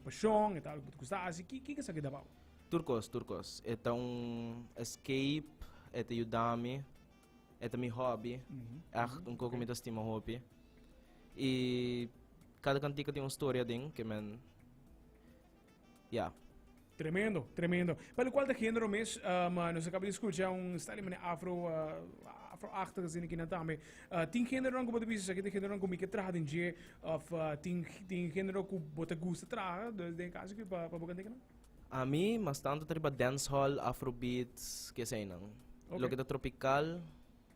Pashon, e ta algu ku sa hasi. Ki kiko esaki ta bou? Tur kos, tur kos. E ta un escape, e ta yuda mi, e ta mi hobby, ègt un kos ku mi ta stima hopi. I kada kantika tin un storia aden ke men, ya. Tremendo, tremendo. Pa lo kual ta genero mes, nos a kaba di skucha un style manera afro, afroachtig asina kinan tambe. Tin generonan ku bo ta bisa esaki ta generonan ku mi ke traha den dje? Of tin tin genero ku bo ta gusta traha den kaso ki pa pa bo kant'e kinan? Ami mas tanto ta riba dancehall, afrobeats, ke eseinan. Okay. Loke ta tropical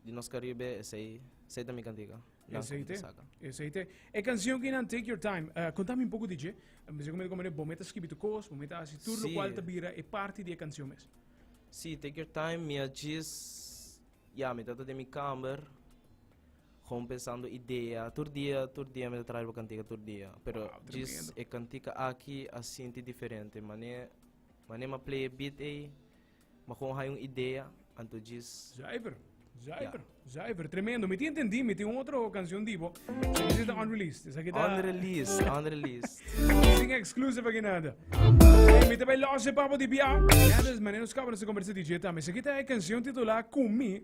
di nos Karibe esei esei ta mi kantika. Dan Esei te, saka. esei te. E canción kinan Take Your Time. eh, contame un poco di dje. Me dice como como bo meta escribi tu cos, bo meta haci tur lo Sí. cual ta bira e parte di e canción mes. Si, take your time, mi a djis ya mi ta ta den mi kamer. Con pensando idea tur dia tur dia mi ta traha riba cantica tur dia pero djis e cantica aki a sinti diferente manera manera mi a play e beat ey mi a con haya un idea anto djis Zuiver, zuiver, zuiver. Tremendo. Mi tin entendi, mi tin un otro canción di bo. This is the unreleased. Esaki ta... unreleased unreleased Sin exclusive aki nada. Hey, mi te bay losse papo di bia. Nada es manera nos kaba nos conversa DJ Tam. Esaki ta e canción titulá Kumi.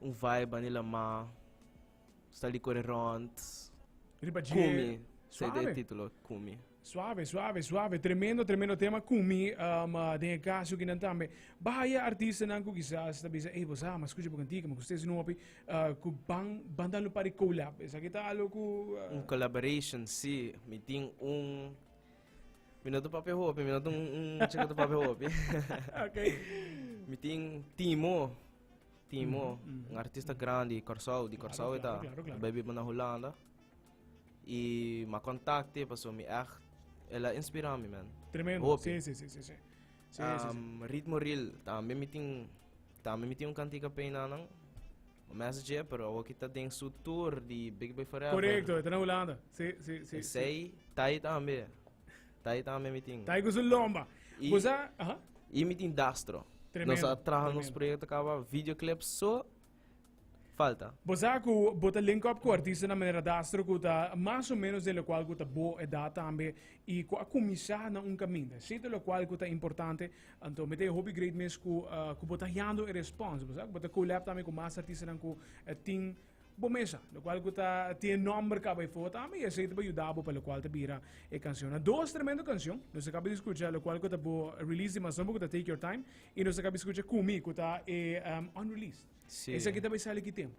Un vibe Manila mar sta li kore rond Riba dje Kumi sa e Suave. titulo Kumi Suave, suave, suave. Tremendo, tremendo tema. Kumi, um, ah, den e caso kinan tambe. Bahaya artistanan ku quizás ta bisa, ei, bosa, mas escucha pa kantika, ma kustes no hopi, ah, ku ban, ban dan lo pari collab. Esaki ta algo ku, ah, Un collaboration si mi tin un Mi no ta papia hopi, mi no ta un, un mucha que ta papia hopi. ok. Mi tin Timo. Timo, mm, mm, un artista mm. grande di Corsou, di Corsou claro, claro, claro, claro. Baby na Holanda. E ma contacte, paso mi echt, ela inspira mi, man. Tremendo, hopi. sí, sí, sí, sí. sí. sí, um, sí, sí. Ritmo Reel, también mi tin, también mi tin un cantica pena, Mes dje, pero awor ki ta den su tour di Big Bay Forever. Correcto, e ta na Hulanda. Sí, sí, sí. Esey, Thai tambe. Thai tambe mi tin. Thai cu su lomba. Y, Bosa, aha. y mi tin Dastro. Tremendo, Nos a traha nos tremendo. proyecto caba videoclip so falta. Bo sa cu bo ta link up cu artista na manera Dastro cu ta mas o menos den locual cu ta bo edad tambe y cu a cuminsa na un caminda. Sito locual cu ta importante Anto mi ta e hopi great mes ku ku bo ta hiando e response, bo sa ku bo ta kolab tambe ku mas artistanan ku e tin bo mesa, lo kual ku ta tin e nòmber kaba efo tambe i esei ta por yuda bo pa lo kual ta bira e kanshonnan. Dos tremendo kanshon nos a kaba di skucha lo kual ku ta bo release di Mazomba ku ta Take Your Time i nos a kaba di skucha Kumi ku ta e unreleased. Sí. Esaki ta bai sali ki tempu?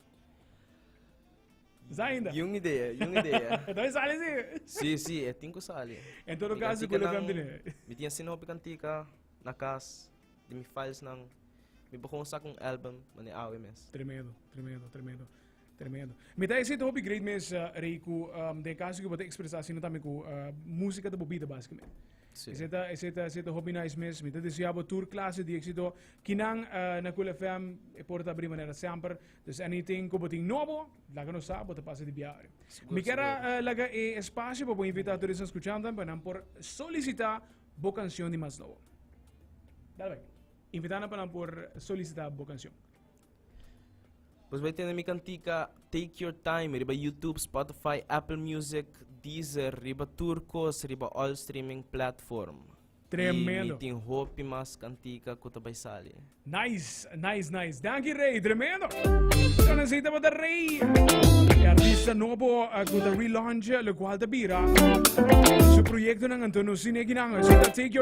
Zainda. Yung idea, yung idea. Entonces e sali si. Sí, sí, e tin ku sali. En todo Mi caso, kantika kule nan- kan bine. Mi tin asina hopi kantika na kas di mi filesnan. Mi por kon saka un album manera awe mes. Tremendo, tremendo, tremendo, tremendo. Mi ta hesita hopi great mes, ah, Rey, ku um, den caso ku bo ta expresa asina tambe ku ah, música ta bo bida básicamente. Sí. Hesita, hesita, hesita hopi nice mes. Mi ta desea bo tur clase di éxito. Kinan ah, na Cool FM e porta abrí manera semper. Dus anything ku bo tin nobo, laga nos sa, bo ta pasa di bia ori. Mi kier a eh, laga e espasio pa bo invitá tur esnan skuchantan pa nan por solisitá bo kansion di mas nobo. Dal bai. Invitá nan pa nan por solisitá bo kansion. Pues bai tene mi kantika Take Your Time riba YouTube, Spotify, Apple Music, Deezer, riba tur kos riba all streaming platform. Tremendo. Y mi tin hopi mas cantica cu ta bay sali. Nice, nice, nice. Dankie Rey, tremendo. Zo nan zita bata Rey. E artista nobo uh, cu ta relaunch, lo cual ta bira. Su proyecto nan anto no sin ekinan. Zita take your